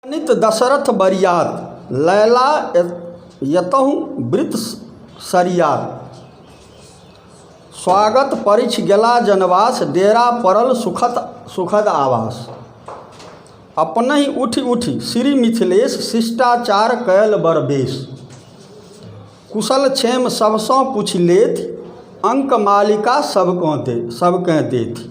अगणित दशरथ बरियात लैला यतहु वृत सरियात स्वागत परिछ गेला जनवास डेरा पड़ल सुखत सुखद आवास अपनहि उठि उठि श्री मिथिलेश शिष्टाचार कयल बड़ बेस कुशल क्षेम सभसँ पुछि लेथि अङ्क मालिका सभकँ दे सभकेँ देथि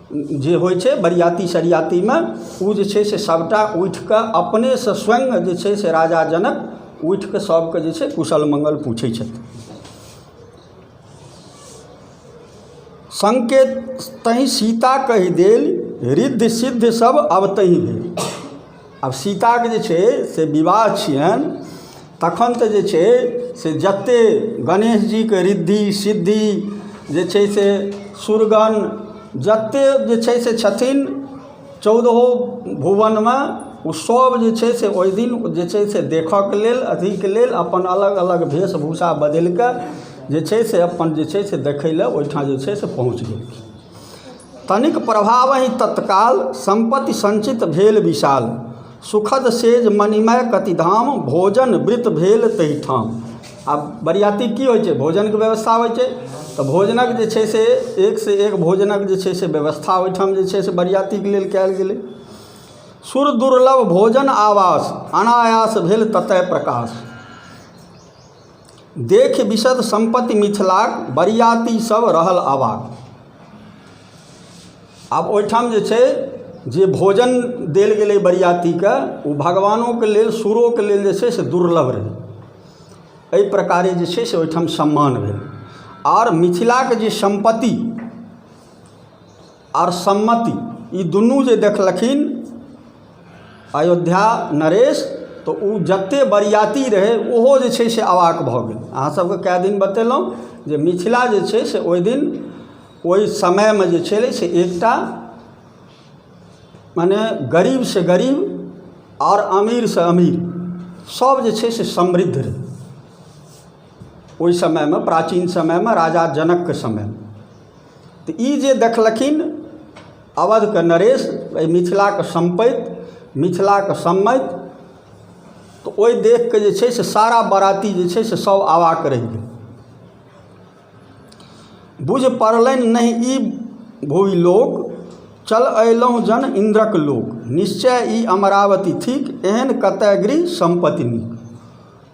जे होइ छै बरियाती सरियातीमे ओ जे छै से सभटा उठि कऽ अपनेसँ स्वयं जे छै से राजा जनक उठि कऽ सभके जे छै कुशल मङ्गल पूछै छथि संकेत तहि सीता कहि देल रिद्ध सिद्ध सभ अवतहि भेल आब सीताके जे छै से विवाह छियनि तखन तऽ जे छै से जतेक गणेशजीके रिद्धि सिद्धि जे छै से सुरगण जतेक जे छै से छथिन चौदहो भुवनमे ओ सभ जे छै से ओहि दिन जे छै से देखयके लेल अथीके लेल अपन अलग अलग भेष भूषा बदलि कऽ जे छै से अपन जे छै से देखय लेल ओहिठाम जे छै से पहुँच गेलखिन तनिक प्रभावहि तत्काल सम्पति सञ्चित भेल विशाल सुखद सेज मणिमय कति धाम भोजन वृत भेल तहि ठाम आब बरियाती की होइ छै भोजनके व्यवस्था होइ छै तऽ भोजनक जे छै से एक से एक भोजनक जे छै से व्यवस्था ओहिठाम जे छै से बरियातीके लेल कयल गेलै सुर दुर्लभ भोजन आवास अनायास भेल ततय प्रकाश देख विशद सम्पति मिथिलाक बरियाती सभ रहल अवाक। आब ओहिठाम जे छै जे भोजन देल गेलै बरियातीकेँ ओ भगवानोके लेल सुरोके लेल जे छै से दुर्लभ रहै एहि प्रकारे जे छै से ओहिठाम सम्मान भेल आओर मिथिलाके जे सम्पति आओर सम्मति ई दुनू जे देखलखिन अयोध्या नरेश तऽ ओ जतेक बरिआती रहै ओहो जे छै से अवाक भऽ गेल अहाँसभके कए दिन बतेलहुँ जे मिथिला जे छै से ओहि दिन ओहि समयमे जे छलै से एकटा मने गरीबसँ गरीब आओर अमीरसँ अमीर सभ जे छै से समृद्ध रहै ओहि समयमे प्राचीन समयमे राजा जनकके समयमे तऽ ई जे देखलखिन अवधके नरेश अइ मिथिलाके सम्पैत मिथिलाके सम्मैत तऽ ओइ देखके जे छै से सारा बराती जे छै से सब अवाक रहि गेल बुझ पड़लनि नहि ई भुवि लोक चल अयलहुँ जन इन्द्रक लोक निश्चय ई अमरावती थिक एहन कतय गृह सम्पति नीक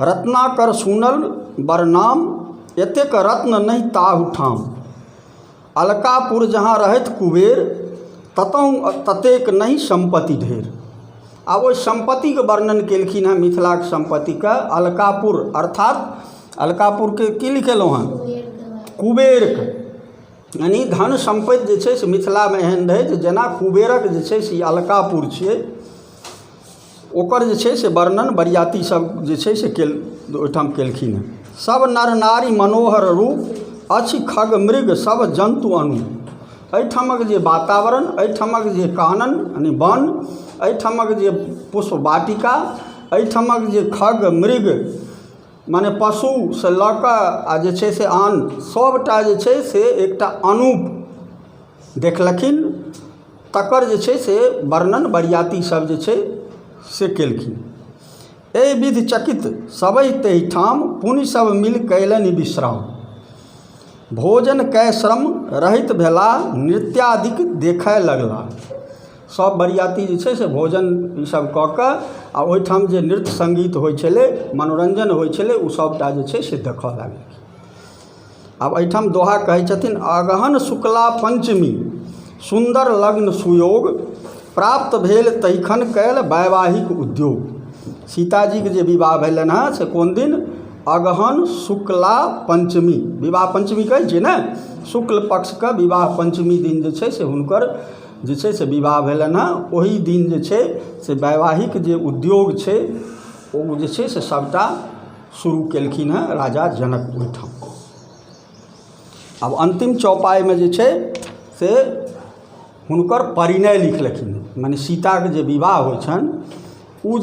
रत्नाकर सुनल बड़ नाम एतेक रत्न नहि ताहू ठाम अलकापुर जहाँ रहथि कुबेर ततहु ततेक नहि सम्पति ढेर आ ओहि सम्पतिके वर्णन केलखिन हेँ मिथिलाके सम्पतिके अलकापुर अर्थात अलकापुरके की लिखेलहुँ हेँ कुबेरके यानि धन सम्पति जे छै से मिथिलामे एहन रहै जे जेना कुबेरक जे छै से ई अलकापुर छियै ओकर जे छै से वर्णन बरियाती सभ जे छै से केल ओहिठाम केलखिन हेँ सभ नर नारी मनोहर रूप अछि खग मृग सभ जन्तु अनूप एहिठामक जे वातावरण एहिठामक जे कानन यानि वन एहिठामक जे पुष्प वाटिका एहिठामक जे खग मृग मने पशुसँ लऽ कऽ आ जे छै से आन सभटा जे छै से एकटा अनूप देखलखिन तकर जे छै से वर्णन बरियाती सभ जे छै से केलखिन एहि विधि चकित सबै तहि ठाम पुनि सभ मिल कयलनि विश्राम भोजन कय श्रम रहित भेला नृत्यादिक देखय लगला सभ बरियाती जे छै से भोजन ई सभ कऽ कऽ आ ओहिठाम जे नृत्य सङ्गीत होइ छलै मनोरञ्जन होइ छलै ओ सभटा जे छै से देखय लगलखिन आब एहिठाम दोहा कहै छथिन अगहन शुक्ला पञ्चमी सुन्दर लग्न सुयोग प्राप्त भेल तहिखन कयल वैवाहिक उद्योग सीताजीके जे विवाह भेलनि हेँ से कोन दिन अगहन शुक्ला पञ्चमी विवाह पञ्चमी कहै छियै ने शुक्ल पक्षके विवाह पञ्चमी दिन जे छै से हुनकर जे छै से विवाह भेलनि हेँ ओहि दिन जे छै से वैवाहिक जे उद्योग छै ओ जे छै से सभटा शुरू केलखिन हेँ राजा जनक ओहिठाम आब अन्तिम चौपाइमे जे छै से हुनकर परिणय लिखलखिन मने सीताके जे विवाह होइ छनि